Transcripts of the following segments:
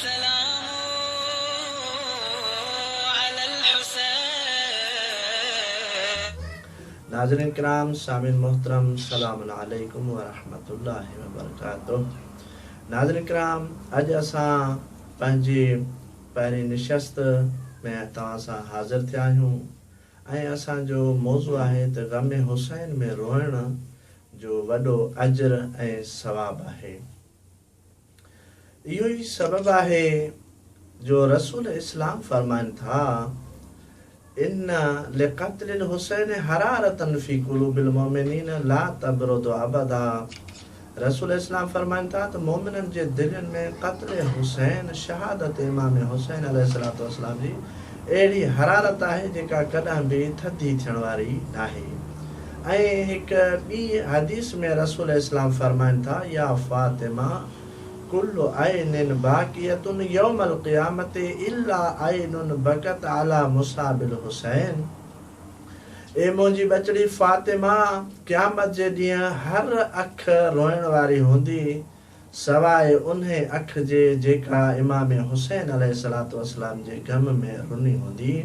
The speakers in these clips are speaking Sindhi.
سلام علي الحسين. ناظرين ڪرام سامعين محترم سلام عليڪم ورحمة الله وبرڪاته ناظرين ڪرام اڄ اسان پنهنجي پهرين نشست ۾ توهان سان حاضر ٿيا آهيون ۽ اسان جو موضوع آهي ته غم حسين ۾ روئڻ جو وڏو اجر ۽ ثواب آهي. اهو ئي سبب آهي جو رسول اسلام فرمائن ٿا، ان لقتل الحسين حرارة في قلوب المؤمنين لا تبرد ابدا رسول اسلام فرمائن ٿا ته مؤمنن جي دلين ۾ قتل حسين، شهادت امام حسين عليه الصلوة والسلام، جي اهڙي حرارت آهي جيڪا ڪڏهن به ٿڌي ٿيڻ واري ناهي. ۽ هڪ ٻي حديث ۾ رسول اسلام فرمائن ٿا، يا فاطمه ڪل عين باڪيه يوم القيامة الا عين بڪت علي مصعب الحسين، اي منهنجي ٻچڙي فاطمه! قيامت جي ڏينهن هر اک روئڻ واري هوندي سواء انهي اک جي جيڪا امام حسين عليه الصلوة والسلام جي غم ۾ رني هوندي،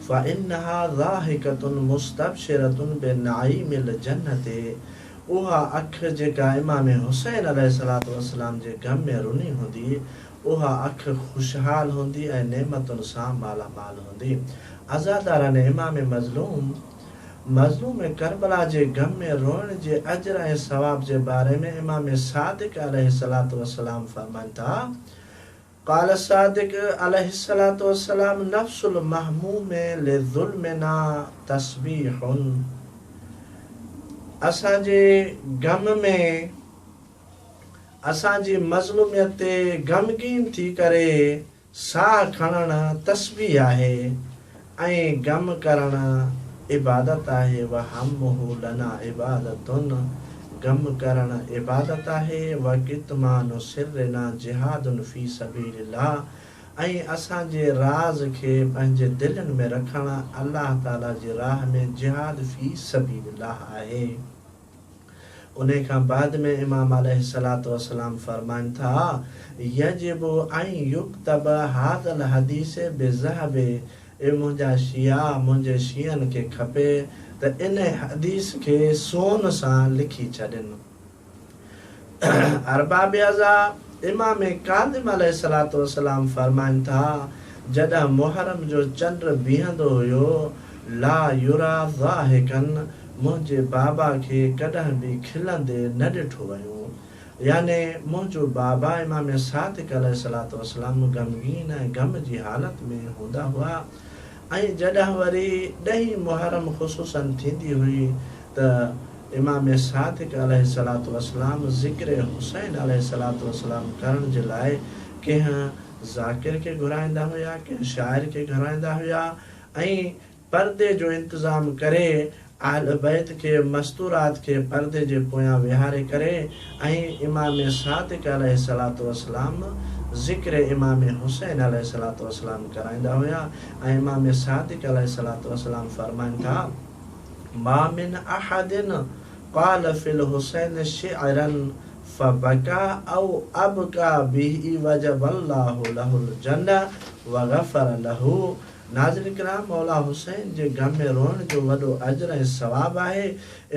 فانها ضاحڪة مستبشرة بنعيم الجنة اها اک جيڪا امام حسين عليه الصلوة والسلام جي غم ۾ رني هوندي، اها اک خوشحال هوندي ۽ نعمتن سان مالا مال هوندي. عزادارن امام مظلوم مظلوم ڪربلا جي غم ۾ روئڻ جي اجر ۽ ثواب جي باري ۾ امام صادق عليه الصلوة والسلام فرمائن ٿا، قال الصادق عليه الصلوة والسلام، نفس المهموم لظلمنا تسبيح، اسان جي غم ۾، اسان جي مظلوميت تي غمگين ٿي ڪري، ساهه کڻڻ تسبيح آهي ۽ غم ڪرڻ عبادت آهي وهمه لنا عبادة غم ڪرڻ عبادت آهي وڪتمان سرنا جهاد في سبيل الله ۽ اسان جي راز کي پنهنجي دلين ۾ رکڻ الله تعالي جي راهه ۾ جهاد في سبيل الله آهي. انهي کان بعد ۾ امام عليه الصلوة والسلام فرمائن ٿا، يجب ان يڪتب هذا الحديث بذهب، اي منهنجا شيعا منهنجي شيعن کي کپي ته انهي حديث کي سون سان لکي ڇڏين. ارباب عزا، امام ڪاظم عليه الصلوة والسلام فرمائن ٿا، جڏهن محرم جو چنڊ بيهندو هيو، لا يرا ضاحڪا، منهنجي بابا کي ڪڏهن به کلندي نه ڏٺو ويو. يعني منهنجو بابا امام صادق عليه الصلوة والسلام غمگين ۽ غم جي حالت ۾ هوندا هئا. ۽ جڏهن وري ڏهين محرم خصوصاً ٿيندي هئي ته امام صادق عليه الصلوة والسلام ذڪر حسين عليه الصلوة والسلام ڪرڻ جي لاء ڪنهن ذاڪر کي گهرائيندا هيا ڪنهن شاعر کي گهرائيندا هيا ۽ پردي جو انتظام ڪري اهل بيت کي مستورات کي پردي جي پويان ويهاري ڪري ۽ امام صادق عليه الصلوة والسلام ذڪر امام حسين عليه الصلوة والسلام ڪرائيندا هيا ۽ امام صادق عليه الصلوة والسلام فرمائن ٿا، ما من احد قال في الحسين شعرا فبكى او ابڪى به وجب الله له الجنة وغفر له. ناظرين ڪرام مولا حسين جي غم ۾ روئڻ جو وڏو اجر ۽ ثواب آهي،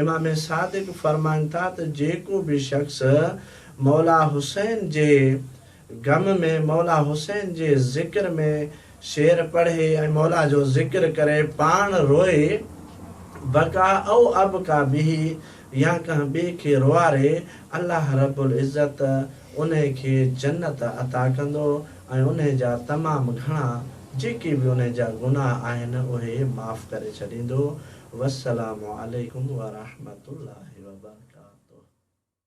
امام صادق فرمائن ٿا ته جيڪو به شخص مولا حسين جي غم ۾ مولا حسين جي ذڪر ۾ شعر پڙهي ۽ مولا جو ذڪر ڪري پاڻ روئي بڪا او ابڪا به يا ڪنهن ٻئي کي روئاري الله رب العزت انهي کي جنت عطا ڪندو. ۽ انهي جا تمام گهڻا جيڪي به انهي جا گناهه آهن اهي معاف ڪري ڇڏيندو والسلام عليڪم ورحمة الله وبرڪاته.